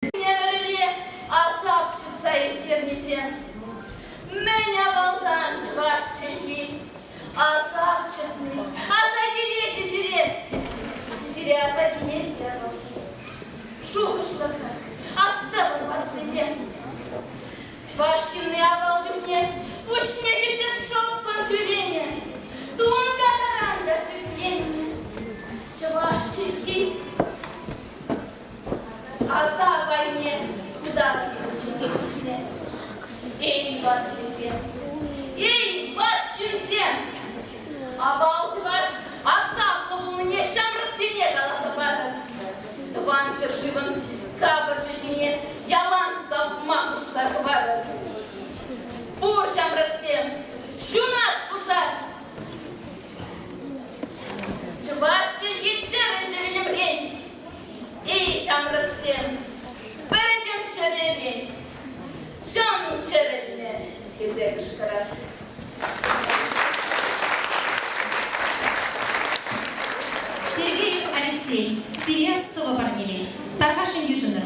Темлере асап чӑтса ирттернисем мӗн авалтан чӑваш чӗлхи асап чӑтни аса килет-и сирен? Сире аса килет те вӑл шухӑшлӑртӑр, астӑвӑр ваттисем. Чӑваш ҫынни авал чухне пуҫне чиксе шӑппӑн ҫӳренӗ, тунка таран та шикленнӗ. Чӑваш чӗлхи Аса апайне хутапилчӗ. Эй, ватҫынсем, эй, ватҫынсем! Авал чӑваш асамлӑ пулнине ҫамрӑксене каласа парӑр. Тӑван ҫӗршывӑн капӑр чӗлхине ялан савма пуҫла хӑварӑр. Пур ҫамрӑксем, ҫунат пушар! Чӑваш чӗлхи чӗрӗнчӗ вилӗмрен, эй ҫамрӑксем, пӗтӗм чӗререн чӑн чӗрӗлнӗ, тесе кӑшкӑрар. Сергеев Алексей, сире сӑвӑ парнелет. Тархасшӑн йышӑнӑр.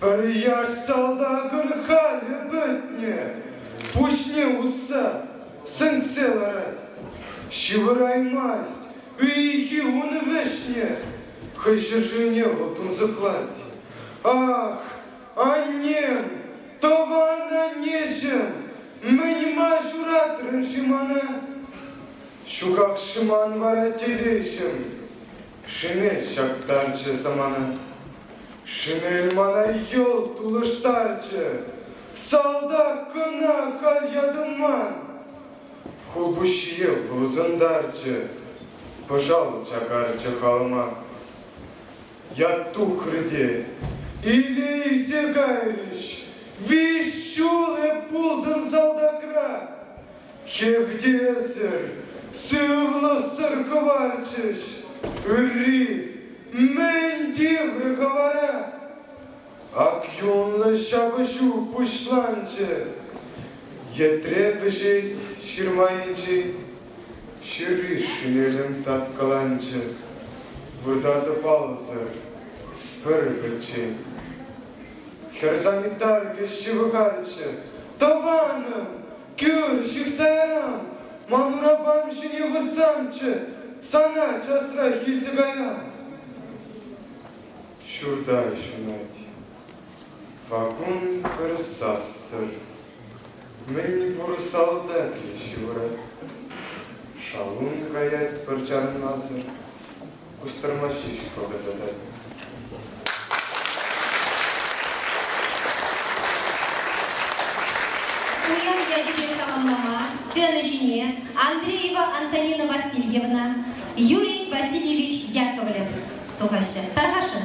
Пӗр яш салтакӑн халӗ пӗтнӗ, пуҫне усса сӗнксе ларать. Ҫывӑраймасть ыйхи ун вӗҫне, хӑй ҫӗршывне вӑл тунсӑхлать. Ах, аннем, тӑван аннеҫӗм, мӗн-ма ҫуратрӑн-ши мана? Ҫуках шӑман вара телеҫӗм. Шинель ҫаптарчӗ самана. Шинель мана йӑлт улӑштарчӗ. Салтак кӑна халь ятӑман. Хулпуҫҫие вырсӑнтарчӗ. Пӑшал чакарчӗ халма. Ят тухрӗ те илейсе кайрӗҫ. Виҫ ҫул эп пултӑм салтакра. Хевтесӗр, сывлӑхсӑр хӑварчӗҫ ырри. Мӗн тиврӗ хӑвара? Ак юнлӑ ҫапӑҫу пуҫланчӗ. Йӗтре вӗҫет ҫырма енчен. Ҫырри шинелӗм таткаланчӗ. Выртатӑп алӑсӑр пӗр-пӗччен. Хӗр санитарка ҫывӑхайччӗ. Тӑванӑм, Кӳр, ҫыхтарам! Ман урапам ҫине выртсамччӗ, сана часрах илсе каям. Ҫурта ҫунать. Факун пӗр сассӑр. Мӗн пур салтакӗ ҫывӑрать. Шалун каять пӗр чарӑнмасӑр. кустӑрмаҫҫи ҫухалтаркатать. Пуян ячӗпе саламлама сцена ҫине Андреева Антонина Васильевна, Юрий Васильевич Яковлев тухаҫҫӗ. Тархасшӑн?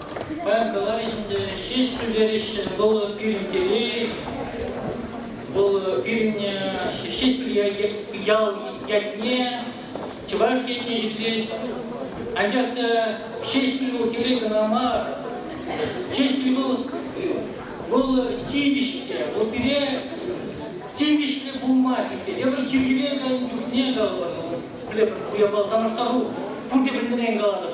Паян каларӗҫ ӗнтӗ, ҫеҫ пӗлтереҫҫӗ, вӑл пирӗн телей, вӑл пирӗнне Ҫеҫпӗл ял ятне, Чӑваш ятне ҫӗклет. Анчах та Ҫеҫпӗл вӑл телей кӑна мар. Ҫеҫпӗл вӑл, вӑл тивӗҫлӗ, вӑл пире тивӗҫлӗ пулма питӗ. Тепӗр чиркӗве кайнӑ чухне калӑпӑр, пӗлепӗр ку япала танлаштару, пурте пӗлнӗрен калатӑп.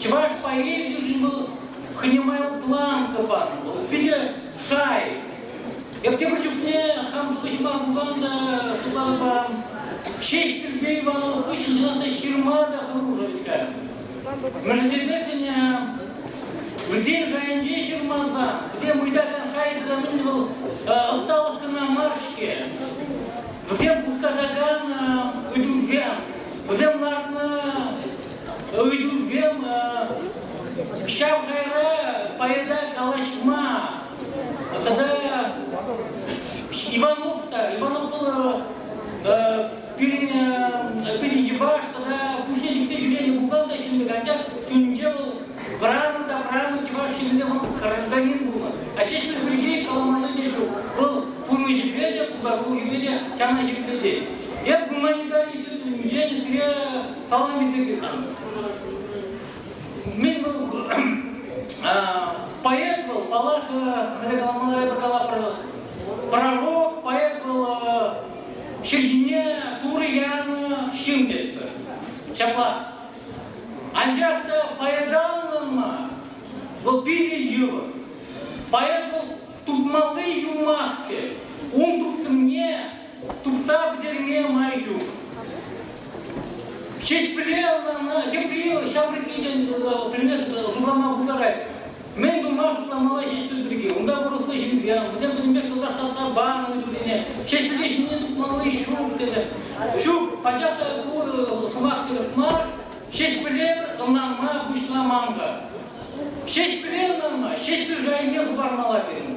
Чӑваш поэзийӗшӗн вӑл хӑйне май планка панӑ, вӑл питӗ шай. Эп тепӗр чухне хам шухӑҫӑма пулсан та шутларӑпа ҫеҫ Пирпе Иванов хыҫҫӑн чӑнах та ҫырма та хӑрушӑ вӗт-ха. Мӗншӗн тесессӗн вӗсен шайӗнче ҫырмасан, вӗсем ыйтакан шай тата мӗн вӑл ӑсталӑх кӑна мар-ҫке. Вӗсем хускатакан ыйтусем вӗсем лартнӑ ыйтусем ҫав шайра поэта калаҫма тата Иванов та Иванов вӑл пирӗн пирӗн йӑваш тата пуҫне тиксе ҫӳренӗ бухгалтер ҫыннӑ анчах чунӗнче вӑл вӑранӑн та вӑранӑн чӑваш ҫыннине вӑл гражданин пулнӑ а ҫеҫпӗл пирки каламалли те ҫук вӑл пурнӑҫӗпе те пултарулӑхӗпе те чана ҫирӗплетет Эп гуманитари енӗсене салам илсе килтӗм. Мен вӑл поэт вӑл, паллах, мӗне каламалла эпӗ калапӑр, пророк, поэт вӑл ҫӗр ҫине турӑ янӑ ҫын тетпӗр. Ҫапла. Анчах та поэталлӑн мар, вӑл питӗ йывӑр. Поэт вӑл тупмалли юмах тет. Ун тупсӑмне Тухса пӗтерме май ҫук. Ҫеҫпӗле ӑна тепри ҫамрӑкки предмет шутлама пултарать. Мӗн тума шутламалла ҫеҫпӗл пирки? Унта вӑрӑхлӑ ҫынсем, вӗсем-вӗсемпе кӑлтах тапса панӑ тутине, ҫеҫпӗле ҫине тухмалли ҫук тенӗ. Ҫук, пачах та ку сӑмах тӗрӗс мар, ҫеҫпӗле пӗр ӑнланма пуҫламан-ха. Ҫеҫпӗле ӑнланма ҫеҫпӗл шайне хӑпармалла пирӗн.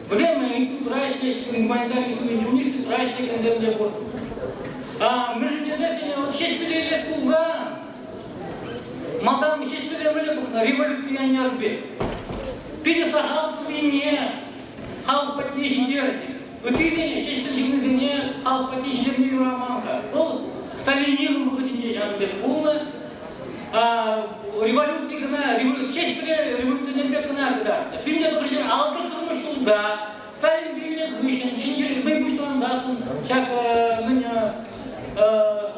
Вӗсемшӗн институтра ӗҫлес, гуманитар институтӗн юристтра ӗҫлекенсем те пур. А мӗншӗн тесен вот Ҫеҫпӗле илес пулсан, малтан Ҫеҫпӗле вӗле пухнӑ революционер пек. Питӗ сахал сывине халӑх патне ҫитернӗ. Ыттисене, Ҫеҫпӗл ҫыннисене халӑх патне ҫитерме юраман-ха. Вӑл сталинизм вӑхӑтӗнче ҫавӑн пек пулнӑ. революци кӑна, революци ҫеҫ революцисен пек кӑна кӑтартнӑ. Пин тӑхӑрҫӗр алтӑшсӑрмӗш ҫулта Сталин вилнӗ хыҫҫӑн ҫӗнтерӳ мӗн пуҫлансан ҫак мӗн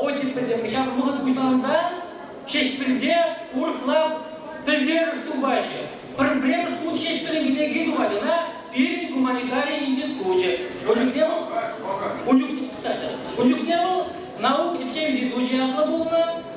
Осиппеле ҫав вӑхӑт пуҫлансан Ҫеҫпӗлте урӑхла пӗлтерӗш тупаҫҫӗ. Пӗрремӗш хут Ҫеҫпӗлӗн кӗнеки тухать ӑна пирӗн гуманитари институчӗ. Ун чухне вӑл ун чухне вӑл наука тӗпчев институчӗ ятлӑ пулнӑ.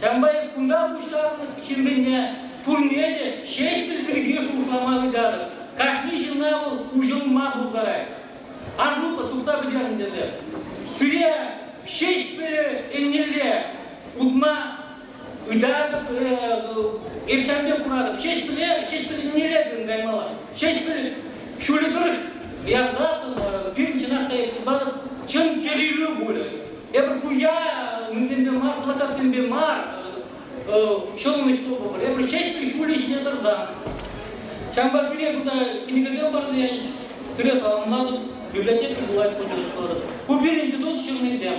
Комбайн кунта пуҫланнӑ ҫынсене пурне те Ҫеҫпӗл пирки шухӑшлама ыйтатӑп. Кашни ҫынна вӑл уҫӑлма пултарать. Аншутлӑх тупса пӗтернӗ тесе. Сире Ҫеҫпӗле еннелле утма ыйтатӑп, эп ҫавӑн пек куратӑп. Ҫеҫпӗле, Ҫеҫпӗл еннелле пирӗн каймалла. Ҫеҫпӗл ҫулӗ тӑрӑх ярсассӑн пирӗн чӑнах та эп шутлатӑп чӑн чӗрилӳ пулӗ. Эпир хуя мӗнсемпе мар, плакатсемпе мар ҫӑлнӑ ҫтопӑпӑр. Эпир ҫеҫпӗр ҫулӗ ҫине тӑрсан. Ҫавӑнпа сире кунта кӗнекесем парнене сире саламлатӑп, библиотека пулать поддержкӑлатӑп. Ку пирӗн институт ҫыннисем.